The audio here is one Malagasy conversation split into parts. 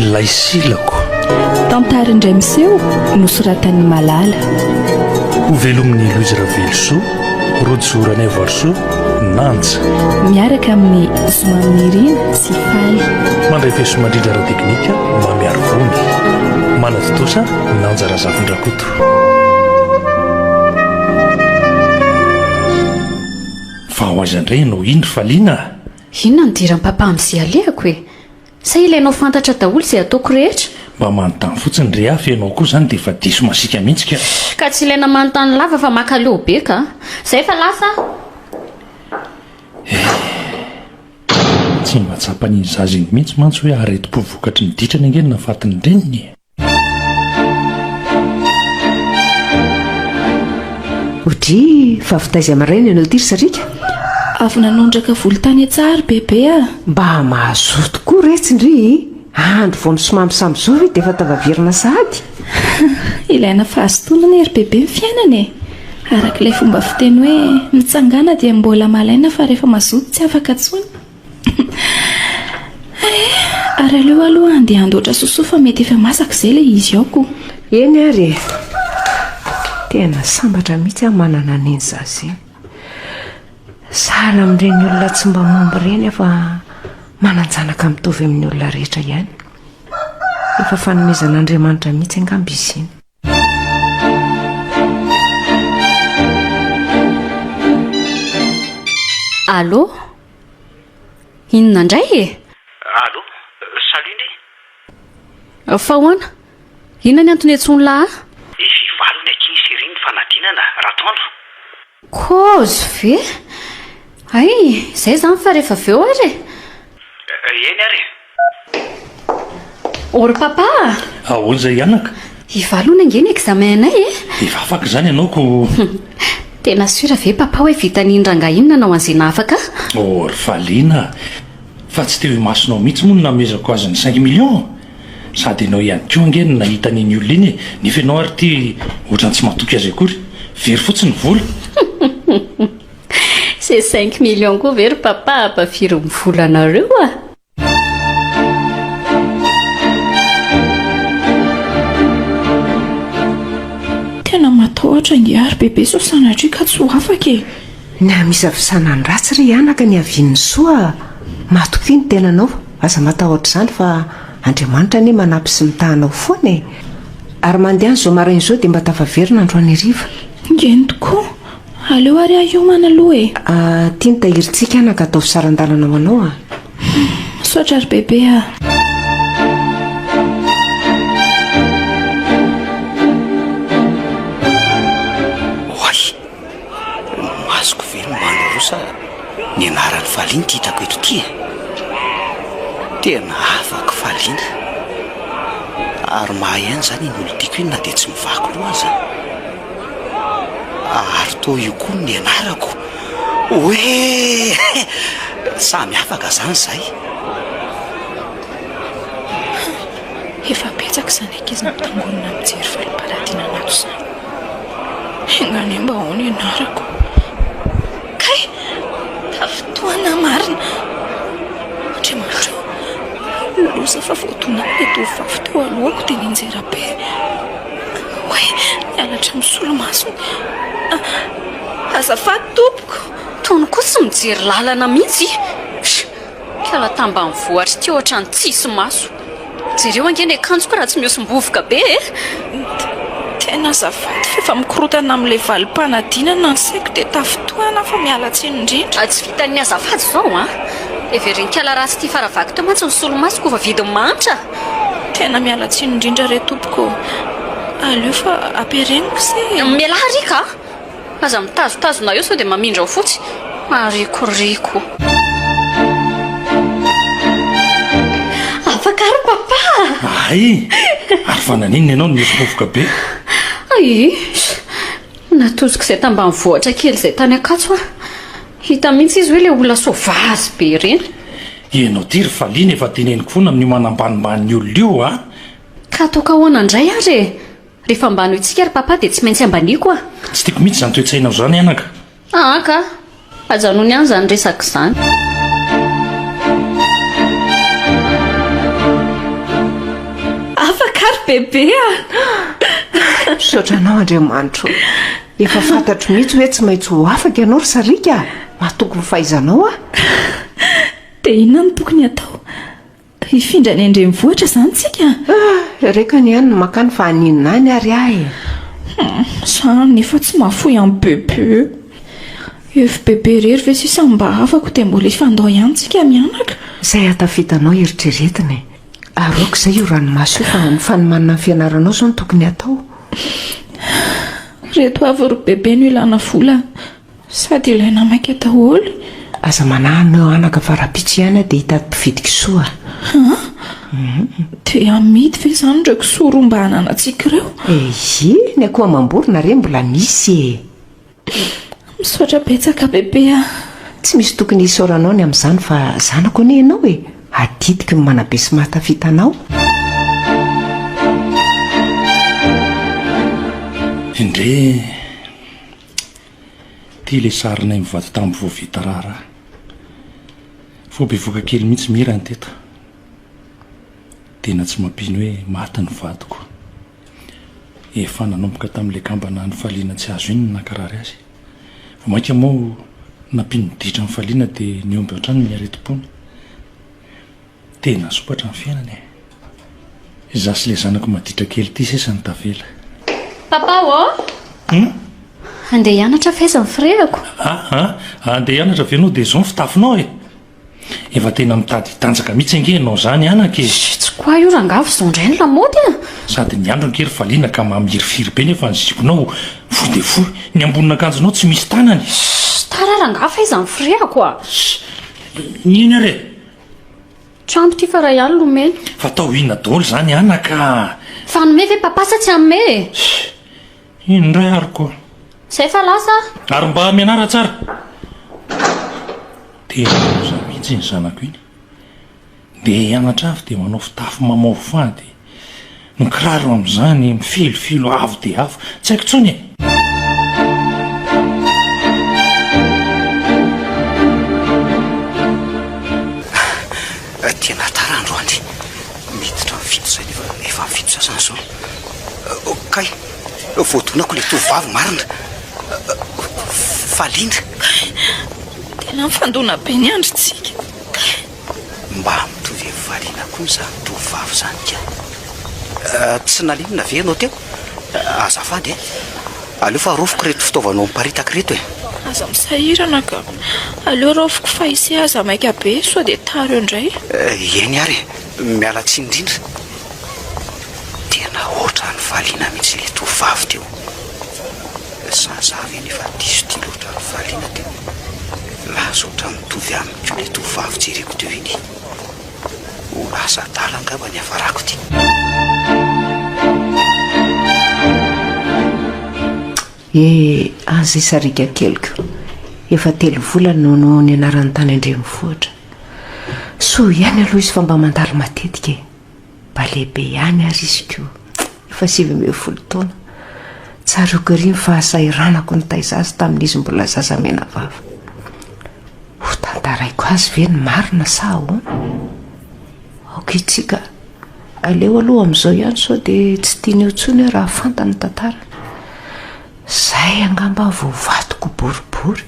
Ilay silako. Tantara indray miseho nosoratan'i Malala. Ho velomin'i Louise Ravelosoa, Rojo Ranaivoarisoa, Nanja. Miaraka amin'ny Zomamy Nirina sy Faly. Mandray peso mandrindra ara-teknika Mamy Arivony. Manatontosa Nanja Razafindrakoto. Fa ho aiza indray ianao iny Faliana a? Inona no diran'i Papa amin'izay alehako e? Sa ilainao fantatra daholo izay ataoko rehetra? Mba manontany fotsiny re aho fa ianao koa izany dia efa diso masiaka mihitsy ka! Ka tsy ilaina manontany lava fa makaleo be ka! Izay fa lasa aho! Tsy mba tsapan'iny zaza iny mihitsy mantsy hoe aretim-po vokatry ny ditrany ange ny nahafatin'ny reniny e! Odry, fa avy taiza maraina ianao ity ry Sarika? Avy nanondraka volontany an-tsary bebe a! Ah. Mba mahazoa tokoa retsy ndry! Andro vao misomamy samy zoro i dia efa tavavirina sahady. Ilaina fahazotoanana ry bebe ny fiainana e! Araka ilay fomba fiteny hoe mitsangàna dia mbola malaina fa rehefa mazoto tsy afaka intsony. Eh, ary aleo aloha handeha handoatra sosoa fa mety efa masaka izay ilay izy ao ko. Eny ary e. Tena sambatra mihitsy aho manana an'iny zaza iny. Sahala amin'ireny olona tsy mba momba ireny fa manan-janaka mitovy amin'ny olona rehetra ihany. Efa fanomezan'Andriamanitra mihitsy angamba izy iny. Allo? Inona indray e? Allo? Salut ndry. Fa ahoana? Inona ny antony iantsoan'lah ahy? Ny fivalony akia sy iry ny fanadinana, Ratoandro. Kozy ve? Hay, izay izany fa rehefa avy eo ary e! Eny ary e! O ry Papa a! Ahoana izay anaka? I Valo hono ange ny examen-nay e! Efa afaka izany ianao ko! Tena sûr ve Papa hoe vitan'iny rangahy iny nanao an'izay nahafaka ahy? O ry Valiana a! Fa tsy teo imasonao mihitsy moa no namezako azy ny cinq millions? Sady enao ihany koa ange no nahita an'iny olona iny e! Nefa enao ary ity ohatrany tsy matoky azy akory. Very fotsiny ny vola. Ces cinq millions koa ve ry papa apa firy ny volanareo a! Tena matahotra ingahy ry bebe sao sanatria ka tsy ho afaka e! Ny hamisafisana ny ratsy ry anaka ny havian'ny soa matokia ny tenanao aza matahotra izany fa Andriamanitra anie manampy sy mitaha anao foana e! Ary mandehana izao maraina izao dia mba tafaverina androany hariva. Eny tokoa! Aleo ary aho hiomana aloha e! Aty ny tahirintsika anaka ataovy saran-dalana ho anao a! Misaotra ry bebe a! Masoko ve no Maloro sa ny anaran'i Falin ty itako eto ty e? Tena afaka Falin a! Ary mahay aina zany iny olon-tiako iny na dia tsy mivaky loha aza a! Ary toa io koa no nianarako oeeeh! Samy afaka zany zahay! Efa betsaka izany ankizy mitangorona mijery fariparatiana anato izany. Enga anie mba ahoana ianarako kay tafintohina marina. Andriamanitra ô, loza fa voadonan'ilay tovovavy teo alohako dia nianjera be. Oay, ny halatra misolomasony. Azafady tompoko. Tony koa tsy mijery lalana mihitsy. Mpiala tambanivohitra ity ohatran'ny tsisy maso. Jereo ange ny akanjoko raha tsy mihosom-bovoka be e! Tena azafady fa efa mikorotana amin'ilay valim-panadinana ny saiko dia tafintohina aho fa miala tsiny indrindra. Tsy vitan'ny azafady izao an! Heverin'ikala ratsy tia fara vaky teo mantsy ny solomaso koa fa vidin'ny mahantra a! Tena miala tsiny indrindra re tompoko ô! Aleo fa ampiareniko se e! Mialà Riaka a! Aza mitazotazona eo sao dia mamindra ao fotsy. Marikoriko. Afaka ary papa a! Ahay! Ary fa naninona ianao no mirofoka be? Aiish! Natoziko izay tambanivohitra kely izay tany Ankatso aho. Hita mihitsy izy hoe ilay olona sauvage be ireny. Ianao ity ry Faliana efa teneniko foana amin'io manambanimban'ny olona io a! Ka ataoko ahoana indray ary e! Rehefa ambanointsika ry Papa dia tsy maintsy ambaniako ah! Tsy tiako mihitsy izany toe-tsainao izany anaka! Aa ka! Ajanony ihany izany resaka izany! Afaka ry Bebe ah! Misaotra anao Andriamanitro o! Efa fantatro mihitsy hoe tsy maintsy ho afaka ianao ry Sariaka ah! Matoky ny fahaizanao aho! Dia inona no tokony hatao? Hifindra any an-drenivohitra izany tsika? Ah! Reko anie any ny makany fa haninona any ary ahy e! Hum! Za anefa tsy mahafoy an'i Bebe. Efa Bebe irery ve sisa no mba havako dia mbola hifandao ihany tsika mianaka? Izay hatafitanao eritreretina e! Aroako izay io ranomaso io fa ny fanomanana ny fianaranao izao no tokony hatao. Ireto avy ry Bebe no ilana vola Sady ilay namaika daholo. Aza manahy anao anaka fa raha pitsy ihany aho dia hitady mpividy kisoa a! Dia hamidy ve izany ireo kisoa roa mba hananantsika ireo? Eyy, ny akoho amam-borona re mbola misy e! Misaotra betsaka bebe a! Tsy misy tokony hisaoranao ny amin'izany fa zanako anie ianao e! Adidiko ny manabe sy mahatafita anao. Indrey e! Ity ilay sarinay mivady tambo vao vita raharaha. Vao bevoka kely mihitsy Mira no teto. Tena tsy mampino hoe maty ny vadiko. Efa nanomboka tamin'ilay kambana nifaliana tsy azo iny ny nankarary azy. Vao mainka moa nampino niditra nifaliana dia nihomby hatrany ny aretim-pony. Tena sompatra ny fiainana e! Izaho sy ilay zanako maditra kely ity sisa no tavela. Papa ô! Hum? Handeha hianatra fa aiza ny firehako? A, a, handeha hianatra ve no dia izao ny fitafinao e? Efa tena mitady hitanjaka mihitsy ange ianao izany an, ankizy! Tsy quoi io rangaha fa izao indray ny lamaody an! Sady ny andro ange ry valiana ka mamirifiry be nefa ny ziponao fohy dia fohy, ny ambonin'akanjonao tsy misy tanany! Ssst! Tara rangaha fa aiza ny firehako a! Ssst! Nino ary e! Trano ty fa ray alina omeny. Fatao inona daholo izany anaka a! Fa hanome ve papa sa tsy hanome e? Hii, inona indray ary ko. Izay fa lasa aho. Ary mba mianara tsara. Tena loza mihitsy iny zanako iny. Ndeha hianatra avy dia manao fitafy mamaofo fady. Ny kiraro amin'izany mifilofilo avo dia avo. Tsy haiko intsony e! Tena tara androany. Miditra amin'ny fito izay nefa efa amin'ny fito sasany izao. Kay, voadonako ilay tovovavy marina. Faly indry. Tena mifandona be ny andrintsika. Mba mitovy amin'ny variana koa izany tovovavy izany ka! Tsy naninona ve ianao teo? Azafady e! Aleo fa aroviko ireto fitaovanao miparitaka ireto e! Aza misahirana ka! Aleo raofiko fa ise aza maika be sao dia tara eo indray! Eny ary e! Miala tsiny indrindra! Tena ohatran'ny valiana mihitsy ilay tovovavy teo! Sa izaho ve no efa diso tia loatra ny valiana teo? Lasa ohatran'ny mitovy amin'ny. Ko le tovovavy jereko teo iny ho lasa adala angamba ny hafarako ity. Eh, aza isarika keliko. Efa telo volana no no nianarany tany an-drenivohitra. Soa ihany aloha izy fa mba mandalo matetika e. Mba lehibe ihany ary izy koa efa sivy ambin'ny folo taona. Tsaroako ery ny fahasahiranako nitaiza azy tamin'izy mbola zaza menavava. Hotantaraiko azy ve ny marina sa ahoana? Aoka ity ka. Aleo aloha amin'izao ihany sao dia tsy tiany eo intsony aho raha fantany ny tantarany. Izay angamba vao vadiko boribory.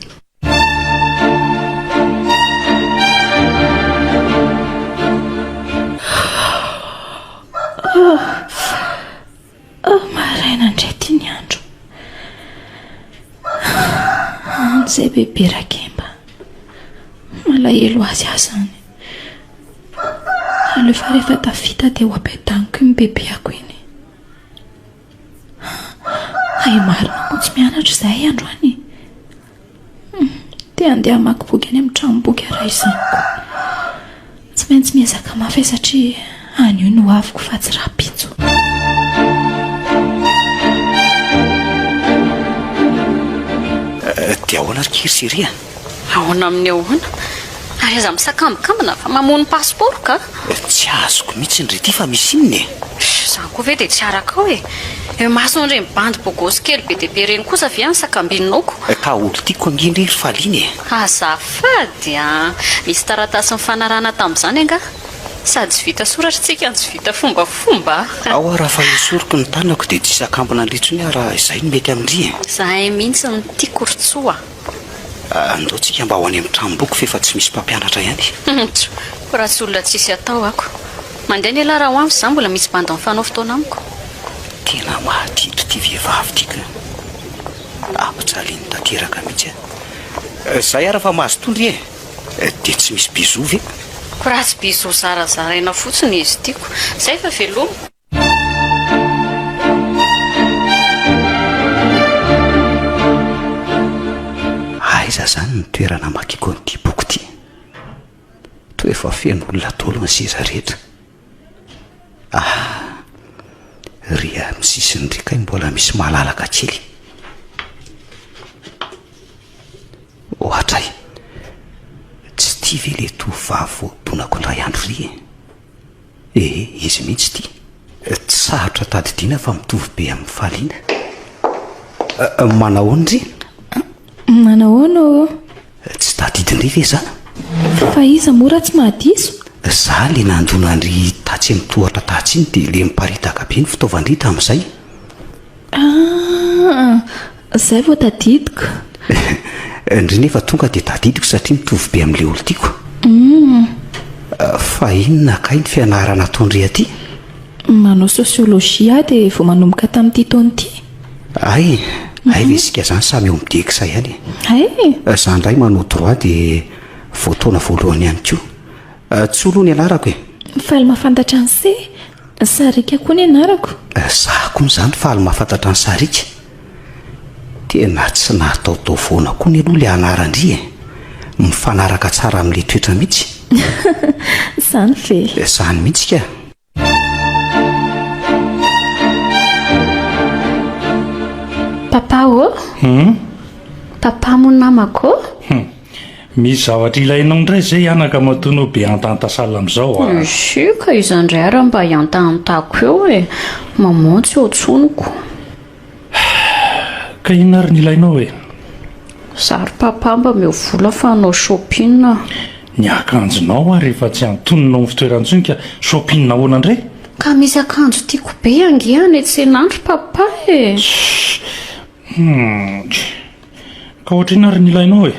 izay bebe rakemba malahelo azy ahy zany alefa rehefa tafita dia ho ampiadaniko iny bebeako iny Hay marina moa tsy mianatra izahay androany e! Te handeha hamaky boky any amin'ny tranomboky aho raha izany koa. Tsy maintsy miezaka mafy aho satria any io no hoaviko fa tsy rahampitso. Dia ahoana ry Kiry sy Hery a? Ahoana amin'ny ahoana? Ary aza misakambikambina fa mamono pasipaoro ka! Tsy azoko mihitsy ny r'ity fa misy inona e? Izany koa ve dia tsy arakao e? Eo imason'ireny bandy bogosy kely be dia be ireny kosa ve any sakambininaoko? Ka olon-tiako ange indray ry Faliana e! Azafady a! Misy taratasy nifanarahana tamin'izany angaha? Sady tsy vita soratra isika no tsy vita fombafomba a! Ao aho raha fa esoriko ny tanako dia tsy hisakambina indray intsony aho raha izay no mety amin-dry e! Izahay mihitsy no tiako ry Tsoa! Andao tsika mba ho any amin'ny tranomboky f'efa tsy misy mpampianatra ihany. Tjo, ko raha tsy olona tsisy atao ako. Mandeha ny elah raha ho avy za mbola misy bandy mifanao fotoana amiko. Tena mahatiky ity vehivavy ity ka. Ampijaliany tanteraka mihitsy an. Zay ara fa mahazo tondry e. Dia tsy misy bisous ve? Ko raha tsy bisous zarazaraina fotsiny izy tiako. Zay fa veloma. Aiza izany ny toerana hamakiako an'ity boky ity? Toa efa feno olona daholo ny seza rehetra. Ah, ry amin'ny sisiny ry kay mbola misy malalaka kely. Ohatray, tsy tia ve ilay tovovavy voadonako indray andro ry e? Ee, izy mihitsy ity. Tsy sarotra tadidiana fa mitovy be amin'ny fariana. Manahoana ry? Manahoana ô? Tsy tadidin-dry ve izany? Fa iza moa raha tsy mahadiso? Za le nandona an-dry tatsy amin'ny tohatra tatsy iny dia le miparitaka be ny fitaovan-dry tamin'izay. Ah, Zay vao tadidiko. Ndry nefa tonga dia tadidiko satria mitovy be amin'ilay olon-tiako. Fa inona kay ny fianarana ataon-dry aty? Manao sociologie aho dia vao manomboka tamin'ity taona ity. Hay, hay ve isika izany samy eo amin'ny DECSA ihany e? Hay! Za indray manao droit dia vao taona voalohany ihany koa. Tso aloha ny anarako e. Faly mahafantatra an'i Se. Sarika koa ny anarako. Za koa izany faly mahafantatra an'i Sarika. Tena tsy nataotao foana koa ny aloha ilay anaran-dry e! Mifanaraka tsara amin'ilay toetra mihitsy. Izany ve? Izany mihitsy kah! Papa ô! Hum? Papa moa namako ô! Hum! Misy zavatra ilainao indray zay anaka matoa anao be hantahantasala amizao a! Isi ka iza ndray ara mba hiantahantako eo e! Maman tsy eo tsoniko. Ka inona ary ny ilainao e? Za ry papa mba meo vola fa hanao shopping aho. Ny akanjonao ary efa tsy antonona ao am fitoerany tsony ka shopping ahoana ndray? Ka misy akanjo tiako be ange any tsena any ry papa e! Shh! Humm. Ka ohatr'inona ary ny ilainao e?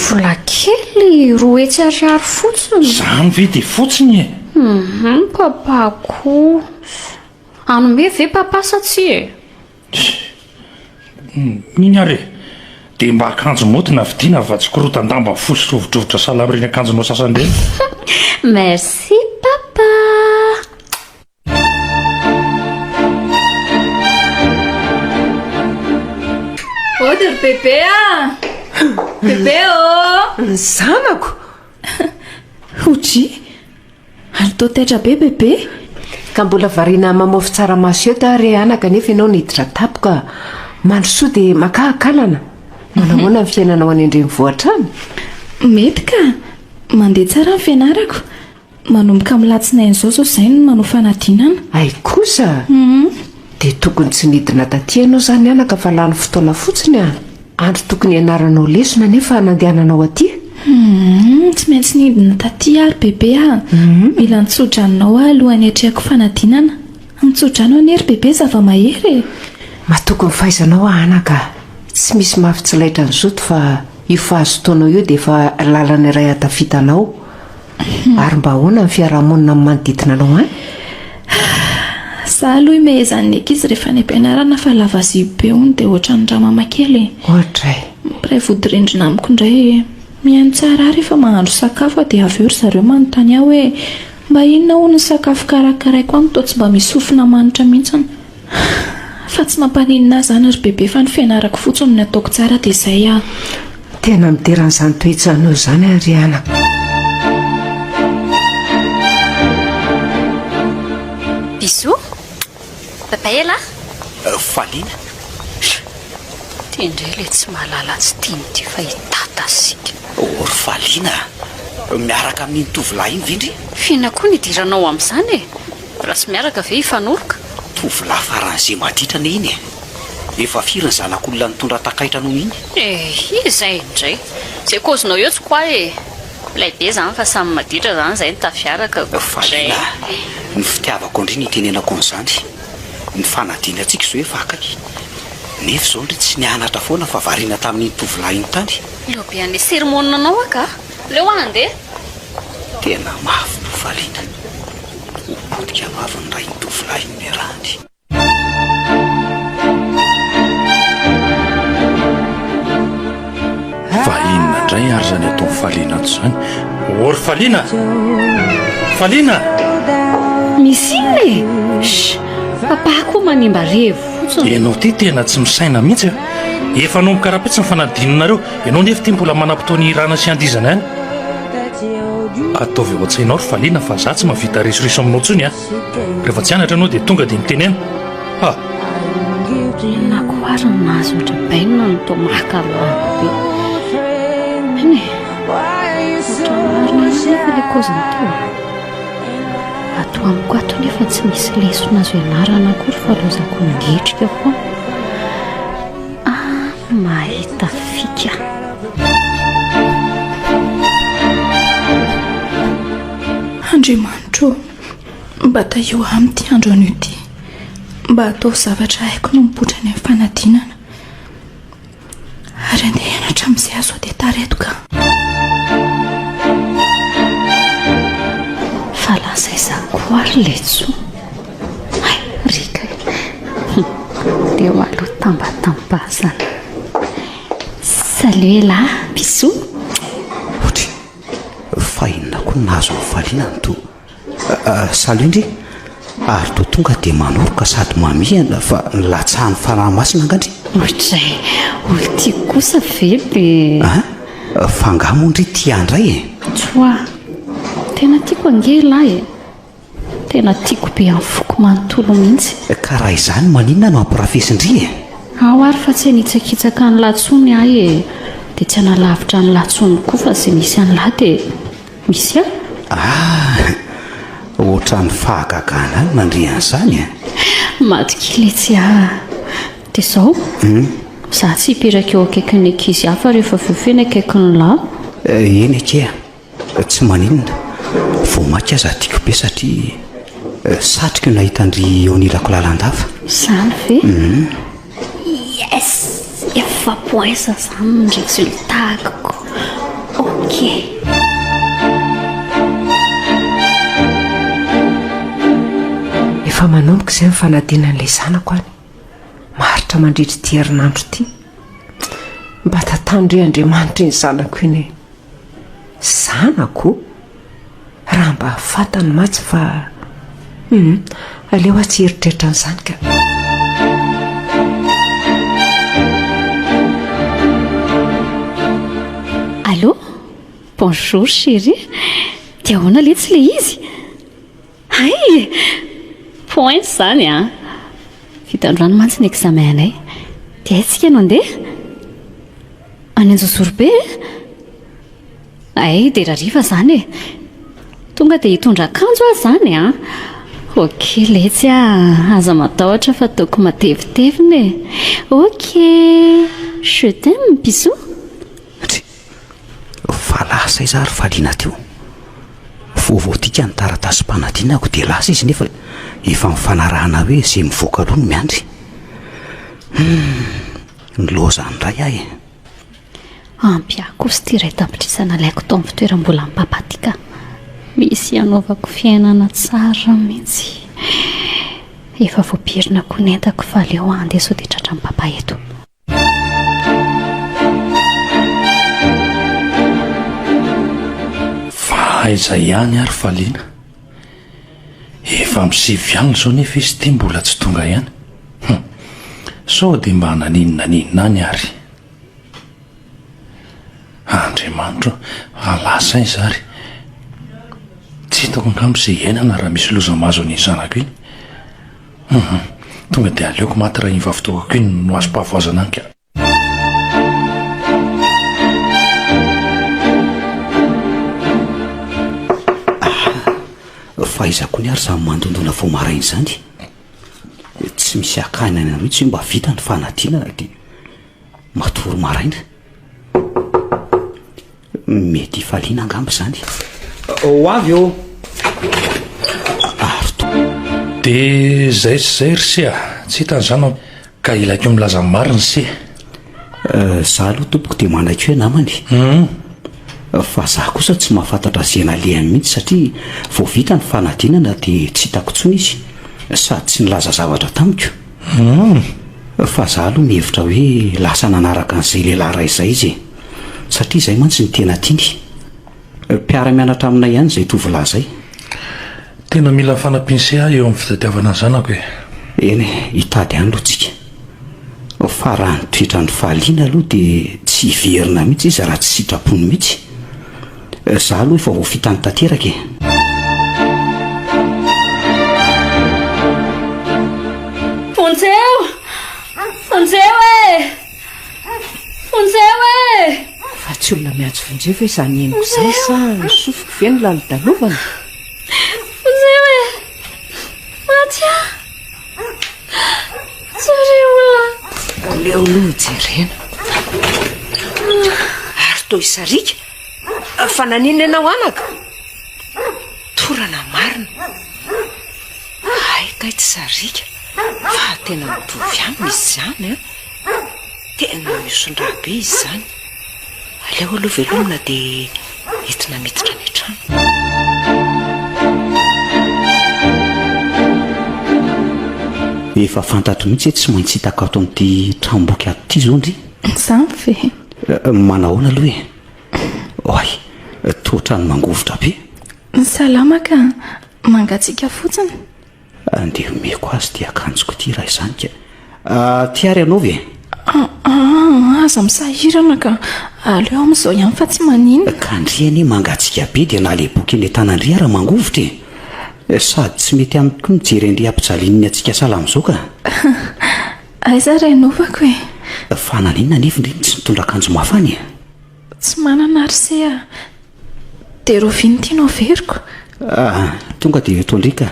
Vola kely roa hetsy ariary fotsiny. Izany ve dia fotsiny e? Hum, papa koa. Hanome ve papa sa tsia e? Mino ary e, dia mba akanjo mody na vidiana fa tsy korotan-damba fohy sy rovidrovitra salama ireny akanjonao sasany ireny. Merci papa. Ody ry bebe a bebe ô ny zanako oji ary to taitra be bebe ka mbola variana mamofy tsaramaso eto ary anaka nefa ianao niditra tapoka mandrosoa dia makahakalana manahoana ny fiainanao any an-drenivohitra any mety ka mandeha tsara ny fianarako Manomboka amin'ny latsinainy izao izao izay no manao fanadinana. Hay kosa a! Dia tokony tsy nidina taty ianao izany anaka fa lany fotoana fotsiny a! Andro tokony hianaranao lesona anefa nandehananao aty e! Humm! Tsy maintsy nidina taty ary bebe a! Mila nitso-dranonao aho alohan'ny hiatrehako fanadinana. Mitso-drano anie ry bebe zava-mahery e! Matoky ny fahaizanao aho anaka a! Tsy misy mafy tsy laitran'ny zoto fa io fahazotoanao io dia efa lalana iray ahatafita anao Ary mba ahoana ny fiarahamonina amin'ny manodidina anao any? Za aloha imehezan'ny ankizy rehefa any am-pianarana fa lava zipo hono dia ohatran'ny ramama kely e. Ohatra e. Mpiray vodirindrina amiko indray e. Mihaino tsara ahy rehefa mahandro sakafo aho dia avy eo ry zareo manontany ahy hoe mba inona hono ny sakafo karakaraiko any toa tsy mba misy sofina manitra mihitsy. Fa tsy mampaninona ahy izany ry bebe fa ny fianarako fotsiny no ataoko tsara dia izay aho. Tena midera an'izany toetsanao izany aho ry anako. Bisous. Bye bye elah. Faliana. Ty indray ilay tsy mahalala tsy tiany ity fa i Tata sika. Oh ry Faliana a! Miaraka amin'iny tovolahy iny ve ndry? F'inona koa no idiranao amin'izany e? Mbola tsy miaraka ve i Fanoroka? Tovolahy faran'izay maditrana iny e! Efa firy ny zanak'olona nitondra takaitra noho iny? Eh! Iza indray? Izay kaozinao eo tsy quoi e! Milay be izany fa samy maditra izany izay no tafiaraka ko! Valiana a! Ny fitiavako ndry no itenenako an'izany! Ny fanadinantsika izao efa akaiky! Nefa izao ndry tsy nianatra foana fa variana tamin'iny tovolahy iny tany! Eo be an'le sermon-nanao aho ka! Leo ah andeha. Tena mafy no valiana ho potika vavin'ny rain-tovolahin'i Mirandy. Fa inona indray ary izany ataon'i Faliana ato izany ô ry Faliana? Faliana! Misy inona e? Shh! Papa koa manimba revo fotsiny. Ianao ity tena tsy misaina mihitsy a! Efa anomboka rahampitso ny fanadinonareo. Ianao nefa ity mbola manam-potoana hihirana sy handizana ihany. Ataovy ao an-tsainao ry Faliana fa za tsy mahavita risoriso aminao intsony an! Rehefa tsy anatra ianao dia tonga dia mitenena. Ha! Inona koa ary no nahazoan-dry Ben an'i Thomas ka lavo be? Eny e! Ohatra ny marina ihany nefa ilay kaoziny teo a! Ato amiko ato nefa tsy misy lesona azo ianarana akory fa lozako migetrika foana. Aah mahita fika. Andriamanitro ô, mba tahio aminy ity andro anio ity, mba ataovy zavatra haiko no mipoitra any amin'ny fanadinana, ary andehana hatramin'izay aho sao dia tara eto ka. Fa lasa aiza koa ary ilay Tso? Rika Leo alo tambatambazana Salut Ella bisous Otry fahina koa nahazo ny faliana ny to Salut ndry Ary to tonga dia manoroka sady mamihana fa nilatsahan'ny fanahy masina nga ndry Otry olo tiako kosa ve dia Ah fa nga moa ndry tia ndray e Tsoa Tena tiako ange Ella e Tena tiako be amin'ny foko manontolo mihitsy. Ka raha izany maninona no ampirafesin-dry e? Ao ary fa tsy hanitsakitsaka an'i lahy tsony ahy e, dia tsy hanalavitra an'i lahy tsony koa fa izay misy an'i lahy dia misy ahy. Ah! Ohatran'ny fahagagana ahy ny mandre an'izany e! Maty kely etsy aho. Dia izao, izaho tsy hipetraka eo akaikin'ny ankizy hafa rehefa avy eo feno akaikin'ny lahy. Eny anie. Tsy maninona, vao maika aza tiako be satria satriko ny nahita an-dry Onilako lalandava. Izany ve? Yes! Efa points izany ny résultat-ko. Ok. Efa manomboka izay ny fanadinan'ilay zanako any. Maharitra mandritra ity herinandro ity. Mba tantano re Andriamanitra iny zanako iny e. Zanako? Raha mba fantany mantsy fa hum, aleo aho tsy hieritreritra an'izany ka. Allô? Bonjour chérie. Dia ahoana letsy ilay izy? Hay! Points izany an! Fitan-drano mantsy ny examen anay. Dia aiza isika no handeha? Any Anjozorobe e! Hay dera hariva izany e! Tonga dia hitondra akanjo aho izany an! Ok letsy a! Aza matahotra fa ataoko matevitevina e! Ok! Je t'aime bisous! Fa lasa izy ary valiana teo. Vaovao tika ny taratasim-panadinako dia lasa izy nefa efa nifanarahana hoe izay mivoaka aloha no miandry. Hum, nilaozany indray aho e! Ampy ahy kosa ity iray tapitrisa nalaiko tao amin'ny fitoeram-bolan'i Papa tika. Misy hanaovako fiainana tsara mihitsy. Efa voapirina koa ny entako fa aleo aho handeha sao dia tratran'i Papa eto. Fa aiza ihany ary fa liana? Efa amin'ny sivy alina izao nefa izy ity mbola tsy tonga ihany. Hum, sao dia mba naninona naninona any ary. Andriamanitro ô, fa lasa aiza ary? Tsy hitako angamba izay iainana raha misy loza mahazo an'iny zanako iny. Hum tonga dia aleoko maty raha iny vavitokako iny no azom-pahavoazana an ka. Fa aiza koa ny ary izany mandondona vao maraina izany? Tsy misy akany any anareo tsy mba vita ny fanadinana dia matory maraina. Mety hifaliana angamba izany. Ho avy ô! Ary to. Dia izay sy izay ry se a! Tsy hitan'izany aho. Ka ilaiko milaza ny marina se. Izaho aloha tompoko dia manaiky hoe namany e. Fa izaho kosa tsy mahafantatra ze nalehany mihitsy satria vao vita ny fanadinana dia tsy hitako intsony izy sady tsy nilaza zavatra tamiko. Fa izaho aloha mihevitra hoe lasa nanaraka an'izay lehilahy iray izay izy e. Satria izay mantsy no tena tiany. Mpiara-mianatra aminay ihany izay tovolahy izay. Tena mila fanampian'ise aho eo amin'ny fitadiavana ny zanako e! Eny e, hitady ihany aloha tsika. Fa raha ny toetrandry fahaliana aloha dia tsy hiverina mihitsy izy raha tsy sitrapony mihitsy. Izaho aloha efa voafitany tanteraka e! Vonjeo! Vonjeo e! Vonjeo eh! Fa tsy olona miantso vonjeo ve izany henoko izany sa ny sofiko ve no lany dalovana? Vonjeo eh! Maty ah! Jereo ah! Aleo aloha ho jerena. Ary toa isarika fa naninona ianao anaka? Torana marina. Hay kay tsy sarika fa tena mitovy aminy izy izany an. Tena misodraha be izy izany. Aleo aloha velomina dia entina miditra any an-trano. Efa fantatro mihitsy hoe tsy maintsy hitako ato amin'ity tranom-boky ato ity izao ndry. Sampy. Eh, manahoana aloha e? Oay, toa ohatran'ny mangovitra be. Salama ka, mangatsiaka fotsiny. Andeha omeko azy ity akanjoko ity raha izany ka. Ah, ty ary anaovy e. Ah, ah, aza misahirana ka. Aleo amin'izao ihany fa tsy maninona. Ka ndry anie mangatsiaka be dia naleboky eny an-tanandry ary mangovitra e. Eh, sady tsy mety amiko koa mijery an'ireo hampijalian'ny hatsiaka sahala amin'izao ka. Aiza ary anaovako e. Fa naninona anefa ndry no tsy nitondra akanjo mafana e. Tsy manana ary se a! Dia rovia ny tianao averiko? Ah! Tonga dia eto alika.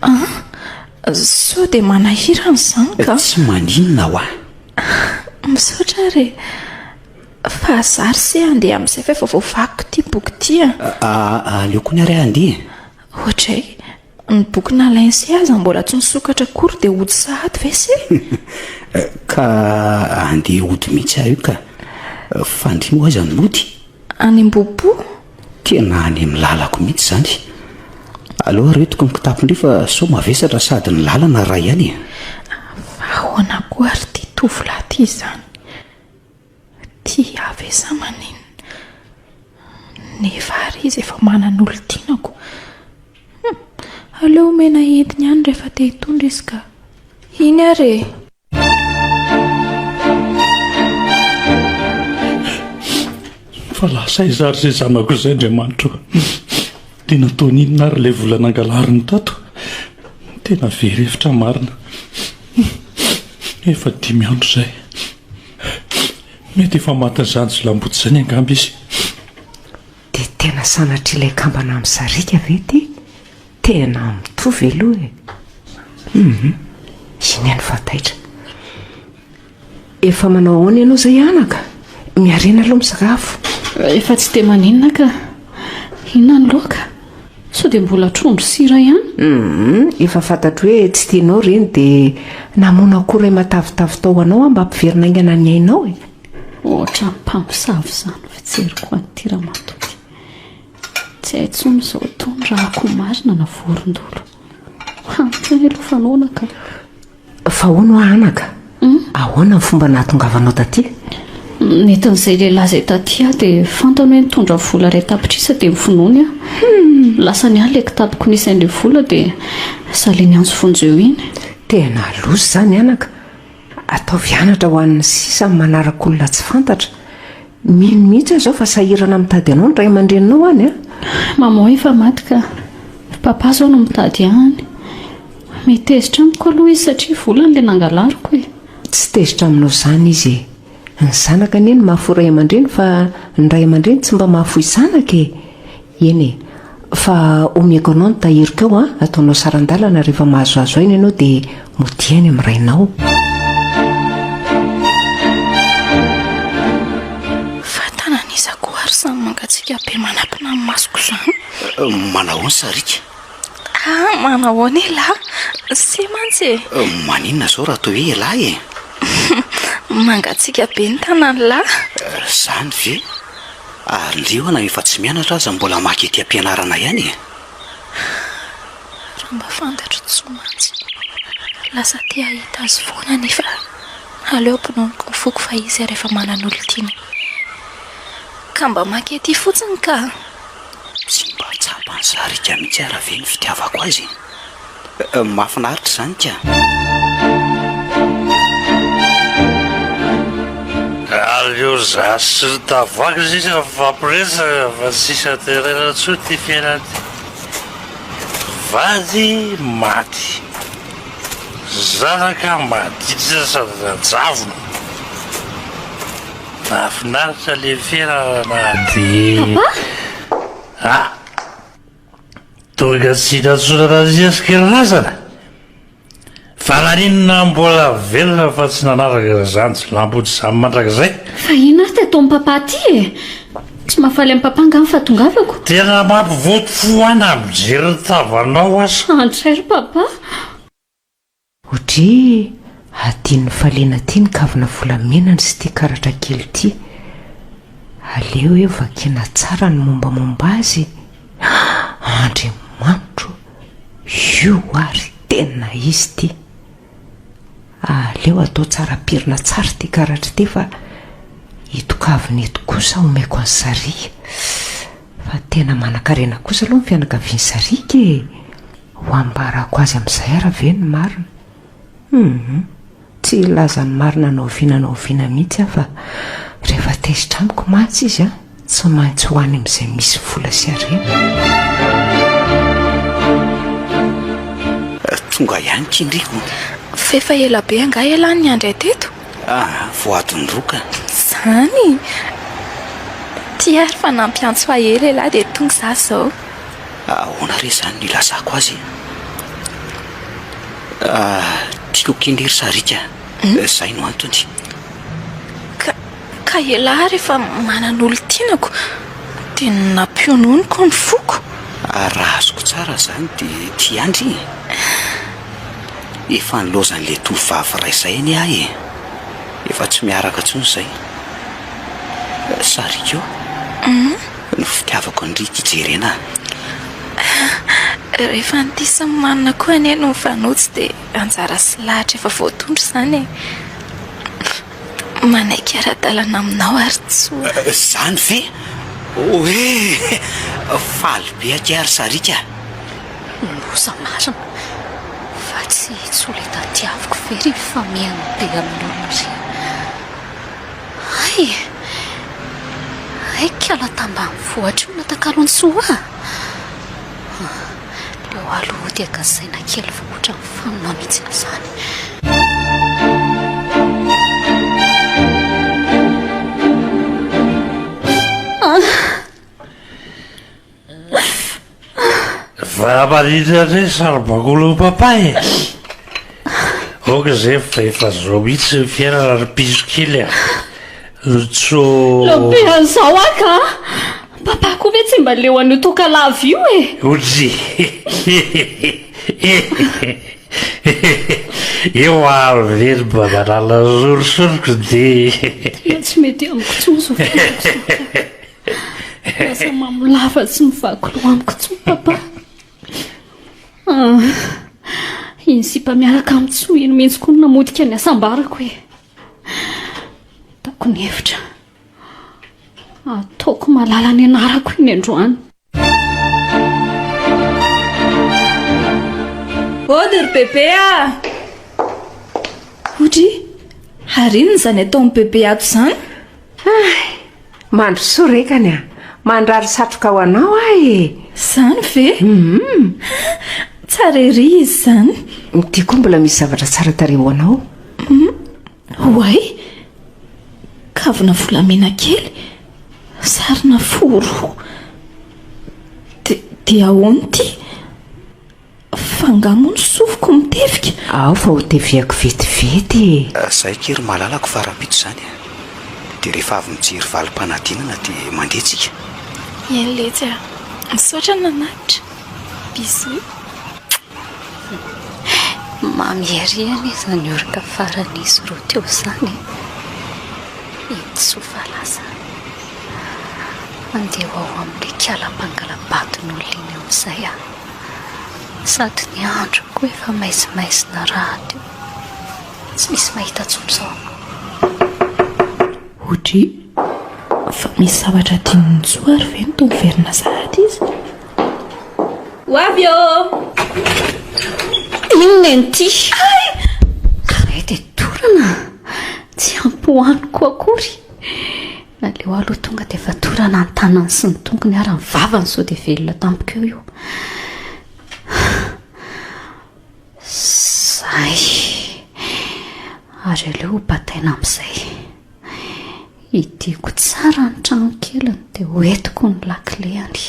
Ah! Sao dia manahirana izany ka! Tsy maninona hoa! Misaotra ary e! Fa za ry se handeha amin'izay fa efa voavakiko ity boky ity a! Ah! Aleo koa ny ary aho handeha e! Ohatr'ay! Ny boky nalainy se aza mbola tsy nisokatra akory dia hody sahady ve se? Ka andeha hody mihitsy aho io ka. Fandria moa aza ny mody. Any Ambohipo? Tena any amin'ny lalako mihitsy izany. Aleo aretiko ny kitapon-dry fa sao mavesatra sady ny lalana raha ihany e. Fa ahoana koa ary ity tovolahy ity izany? Tia Yaveh sa maninona? Nefa ary Izy efa manana olon-tianako. Hum! Aleo omena entiny ihany rehefa te hitondra izy ka. Iny ary e! Fa lasa aiza ary izay zanako izay, Andriamanitra o? Dia nataony inona ary ilay vola nangalariny tato? Tena very hevitra marina. Efa dimy andro izay. Tsia, mety efa matin'izany jiolahim-boto izany angamba izy. Dia tena sanatri'ilay kambana amin'ny sariaka ve ity? Tena mitovy aloha e! Hum! Iny any fa taitra. Efa manao ahoana ianao izay anaka? Miharena aloha misakafo. Efa tsy dia maninona ka. Inona ny loaka? Sao dia mbola trondro sy hira ihany? Humm, efa fantatro hoe tsy tianao ireny dia namono akoho iray matavitavy tao ho anao aho mba hampiverina haingana ny ainao e! Ohatran'ny mpamosavy izany ny fijeriko an'ity ramatoa ity. Tsy hay intsony izao itony raha akoho marina na vorondolo. Hany kay aloha fanaona ka. Fa hono hoa anaka, ahoana ny fomba nahatongavanao taty? Nentin'izay lehilahy izay taty aho dia fantany hoe nitondra vola iray tapitrisa dia novonoiny aho. Lasany aho ilay kitapoko nisy an'ilay vola dia saliny antsy vonjy eo iny. Tena loza izany anaka, ataovy anatra ho an'ny sisa amin'ny manaraka olona tsy fantatra. Mino mihitsy aho izao fa sahirana mitady anao ny ray aman-dreninao any a! Maman efa maty ka. Papa izao no mitady any. Mety tezitra amiko aloha izy satria volany ilay nangalariko e! Tsy tezitra aminao izany izy e! Ny zanaka anie no mahafoy ray aman-dreny fa ny ray aman-dreny tsy mba mahafoy zanaka e! Eny e! Fa omeko anao ny tahiriko ao an! Ataonao saran-dalana rehefa mahazoazo aina ianao dia modia any amin'ny rainao. Fatana ny isako ary samy mangatsiaka be manapina ny masoko izany. Manahoana Sariaka? Ah! Manahoana elah? Sy mantsy e! Maninona izao raha toa hoe elah e? Mangatsiaka be ny tanan'lah. Izany ve? Aleo na efa tsy mianatra aza mbola maka ety am-pianarana ihany e! Raha mba fantatro Tso mantsy, lasa te hahita azy foana nefa aleo bononiko ny foko fa izy ary efa manana olon-tiany. Ka mba maka ety fotsiny ka! Tsy mba tsapa an'i Sarika mihitsy ara ve ny fitiavako azy? Mahafinaritra izany ka! Aleo za sy ry Tavaky sisa mifampiresaka fa tsy hisy haterena intsony ity fiainana ity. Vady maty, zanaka maditra sady rajavona. Mahafinaritra le fiainana na dia. Papa! Ah! Tonga tsy nantsoina nandinika ny razana? Fa naninona mbola velona fa tsy nanaraka ry zandry nampody zany mandrakizay? Fa inona ary tataon'i papa aty e? Tsy mahafaly an'i papa angaha ny fahatongavako? Tena mampivoto fo ahy na mijery ny tavanao aza. Antray ry papa. Odry e! Adinon'i Falena ty ny kavina volamenany sy ty karatra kely ty. Aleo e vakiana tsara ny mombamomba azy e! Haa! Andriamanitro o! Io ary tena izy ty! Aleo atao tsara pirina tsara ty karatra ty fa eto kavina eto kosa omeko an'i Sariha. Fa tena manankarena kosa aloha ny fianakavian'i Sariaka e! Ho ambarako azy amin'izay ara ve ny marina? Humm! Tsy hilaza ny marina na oviana na oviana mihitsy aho fa rehefa tezitra amiko mantsy izy an, tsy maintsy ho any amin'izay misy vola sy harena. Tonga ihany kinriko. F'efa ela be angaha ialahy niandry ahy teto? Ah, voadondroka. Zany? Ty ary fa nampiantso ahy ela ela dia tonga za zao. Ahoana re zany no ilazako azy e? Ah, tiako kely ry Sariaka, hmm? zay no antony. Ka, ka elah ary efa manana olon-tianako dia nampiononiko ny foko. Ah, raha azoko tsara zany dia ty andry. Efa nilaozan'ilay tovovavy iray izay anie aho e! Efa tsy miaraka intsony izay. Sariko ny fitiavako an-dry ity Jerena a! Rehefa an'ity Simimanina koa anie no mifanojo dia anjara sy lahatra efa voatondro izany e! manaiky ara-dalana aminao ary tsoa. Izany ve hoe faly be akia ary sariaka? Loza marina! Fa tsy i Tsoley tadiaviko ve ry famihana be amin'olona ry? Hay e! Hay kala tambanivohitra io natakalon'i Soa a! Teo aloha dia gasaina kely fa ohatra ny fanina mihitsy ny sasany. Aoka zay fa efa zao mihitsy ny fiainana ry piso kely a! Lotso. Lehibe an'izao aho ka! Papa koa ve tsy mba leo an'io toaka lava io e! Oji. Eo ary ve ry babalala sorisoriko dia. Tena tsy mety amiko intsony izao fiainako izao ka! Lasa mamolava sy mivaky loha amiko intsony papa. Ah! Iny sipa miaraka amin'ny tsoa iny mihitsy koa no namotika ny hasambarako e. Ataoko ny hevitra. Ataoko malala ny anarako iny androany. Ody ry bebe a! Ody, ary inona izany ataon'i bebe ato izany? Hay! Mandrosoa rekany a! Mandrary satroka ho anao aho e! Izany ve? Hum! Tsara ery izy izany! Dia koa mbola misy zavatra tsara tarehy ho anao. Hum! Oay! Kavina volamena kely, sarina fo roa. Dia ahoana ity? Fa nga moa ny sofiko mitevika? Ao fa ho teviako vetivety e! Zay akia ry malalako fa rahampitso izany a! Dia rehefa avy mijery valim-panadinana dia mandeha tsika. Eny letsy a! Misaotra nanatitra! Bisous. Mamy ery anie izany oroka faran'izy roa teo izany e! Iny tsofa lasa. Andeha ho ao amin'ilay kala mpangala-baton'olona iny amin'izay aho. Sady ny andro koa efa maizimaizina rahateo. Tsy misy mahita tsony zao. Ohatry fa misy zavatra adinon'i Joa ary ve no toa miverina sahady izy? Ho avy ô! Inona inty? Hay! Izahay dia dorana, tsy hampohaniko akory. Aleo aloha tonga dia fatorana ny tanany sy ny tongony ary ny vavany sao dia velona tampoka eo io. Zay. Ary aleo ho bataina amin'izay. Hidiako tsara ny trano keliny dia hoentiko ny lakileny.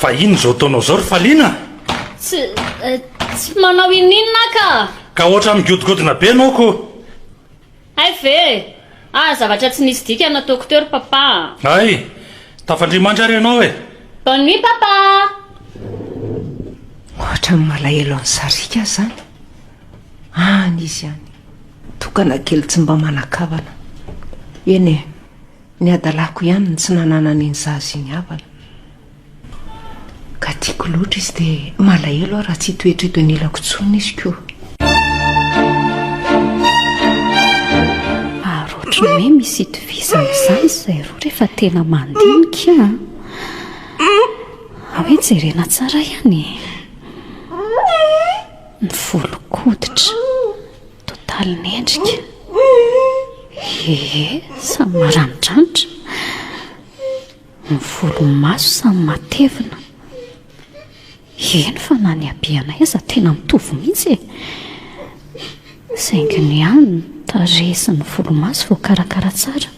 Fa inona izao ataonao izao ry Faliana? Tsy eh, tsy manao ininona ka. Ka ohatra migodigodina be ianao ko. Hay ve? Ah, zavatra tsy nisy dika nataoko teo ry papa. Hay, tafandrimandry ary ianao e. Bonne nuit papa. Ohatra ny malahelo an'i Sarika aho izany. Any izy any, tokana kely tsy mba manan-kavana. Eny e, ny hadalako ihany no tsy nananany iny zaza iny havana. Ka tiako loatra izy dia malahelo aho raha tsy hitoetra eto anilako intsony izy koa. Ary ohatran'ny hoe misy itovizana izany izay roa rehefa tena mandinika an! Hoe jerena tsara ihany e! Ny volon-koditra, totaly mendrika. Hehe, samy maranidranitra. Ny volomaso samy matevina. Eny fa na ny habeanay aza tena mitovy mihitsy e! Saingy ny ahy ny tarehy sy ny volomaso voakarakara tsara.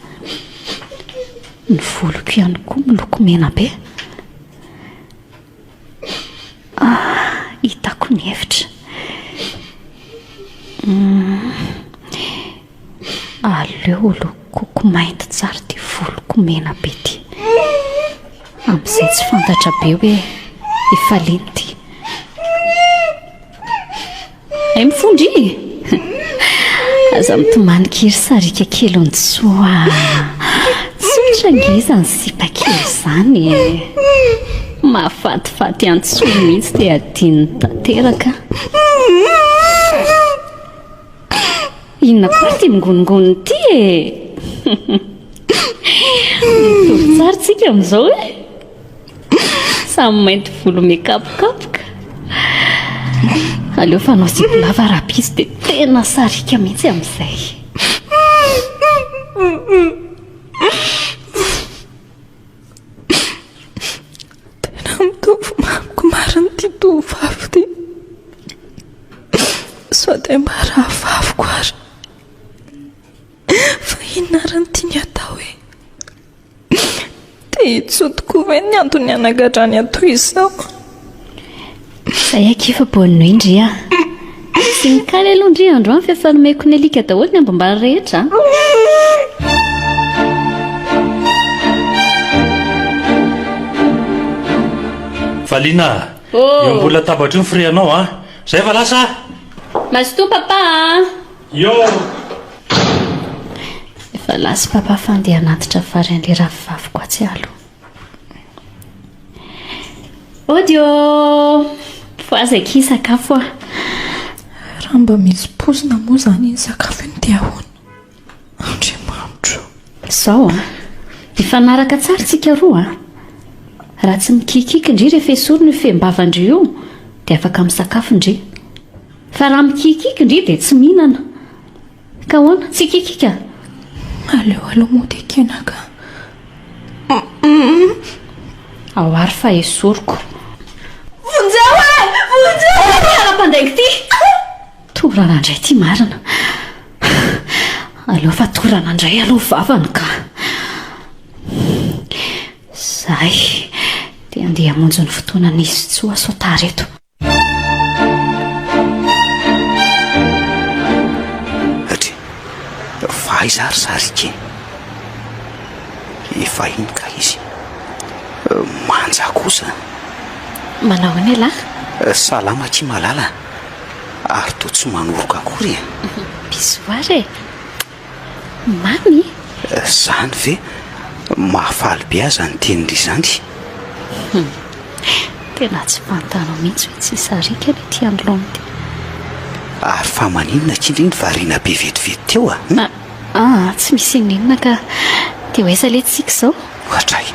Ny voloko ihany koa miloko mena be. Hitako ny hevitra. Aleo holokoiko mainty tsara ity voloko mena be ity. Amin'izay tsy fantatra be hoe efa lena ity. Hay mifondra e! Aza mitomany kely sariaka kely Ontsoo a! Tsotra ange izany sipa kely izany e! Mahafatifaty an'i Ntsoo mihitsy dia adinony tanteraka. Inona koa ity mingonongony ity e! Mitovy tsara tsika amin'izao e! Samy mainty volo mikapokapoka. Aleo fanao zipo lava rapiso dia tena sariaka mihitsy amin'izay. Tena mitovy mamiko marina ity tovovavy ity. Sao dia mba rahavaviko ary. Fa inona ary no tiany atao e? Dia intsony tokoa ve ny antony hanagadrany ahy toy izao? Izay akia fa bonne nuit ndry a! Tsy mikaly aloha ndry androany fa efa nomeko ny alika daholo ny ambom-bary rehetra a! Valiana a! Eo ambony latabatra eo ny firianao a! Izay fa lasa a! Mazotoa papa a! Efa last papa fa andeha hanatitra vary an'ilay ravivaviko atsy alo. Audio! Voazaka i sakafo ah. Raha mba misy pozina moa izany iny sakafo iny dia ahoana? Andriamanitro o! Izao an, hifanaraka tsara isika roa an. Raha tsy mikikiky ndry rehefa esorina io fehim-bavan-dry io dia afaka misakafo ndry. Fa raha mikikiky ndry dia tsy mihinana. Ka ahoana? Tsy kikika? Aleo aloha mody ekena ka. Ao ary fa esoriko. Vonjeo e! Vonjeo! Ahoana ity ara-pandaingo ity? Torana indray ity marina. Aleo fa torana indray aloha vavany ka. Izahay dia handeha hamonjy ny fotoanan'izy tsy ho aso tara eto. Atri, fa aiza ary za ry keny? Efa iny ka izy. Manja kosa. Manao ahoana ialahy? Salama akia malala. Ary toa tsy manoroka akory e. Bisous ary e. Mamy? Zany ve? Mahafaly be aza ny teny ry zany. Hum. Tena tsy fantanao mihitsy hoe tsy sariaka ny ety anoloana ity. Ary fa maninona k'indry iny variana be vetivety teo a? Hum? Ah, ah, tsy misy inon'inona ka. Dia ho aiza ilay tsiky izao? Hatray,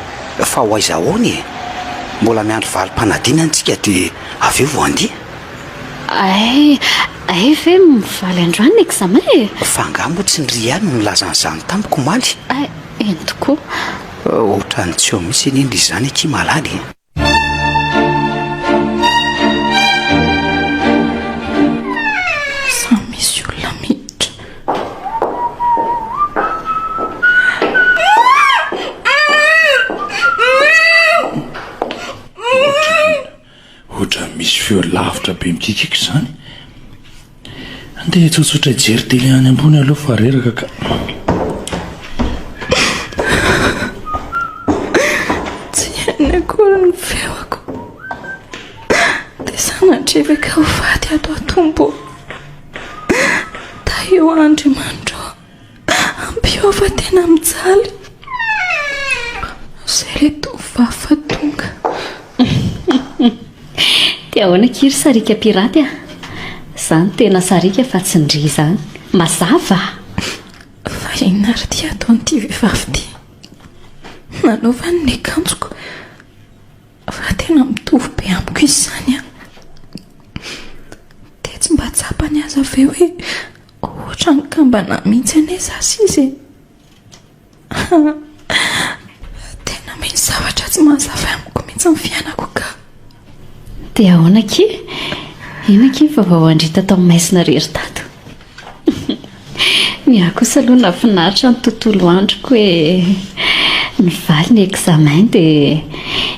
fa ho aiza ahoana e? Mbola miandry valim-panadinana isika dia avy eo vao handeha. Ay, Hay ve mivaly androany ny examen e? Fa angaha moa tsy ny ry ihany no nilaza an'izany tamiko omaly? Hay, eny tokoa. Ohatran'ny tsy eo mihitsy anie ny izany akia malala e! Samy misy olona miditra. Ohatran'ny. Ohatran'ny misy feo lavitra be mikikika izany. Andeha tsotsotra hijery tele any ambony aloha fa reraka ka. Tsy hainy akory ny feoko. Dia sanatria ve ka ho faty ato atompo ô? Tahio Andriamanitra ô! Ampiova tena mijaly zay le tovovavy fa tonga. Dia ahoana akia ry sariaka piraty a? Za no tena sariaka fa tsy ndry izany. Mazava a! Fa inona ary ity ataon'ity vehivavy ity? Nanaovany ny akanjoko fa tena mitovy be amiko izy izany a! Dia tsy mba tsapany aza ve hoe. Ohatra ny kambana mintsy anie za sisa e! Haa! Tena misy zavatra tsy mazava amiko mintsy ny fiainako ka! Dia ahoana akia? Eny akia fa vao andrita tao Maisina re ry Dato! Ny ahy kosa aloha nahafinaritra ny tontolo androko e! Nivaly ny examen dia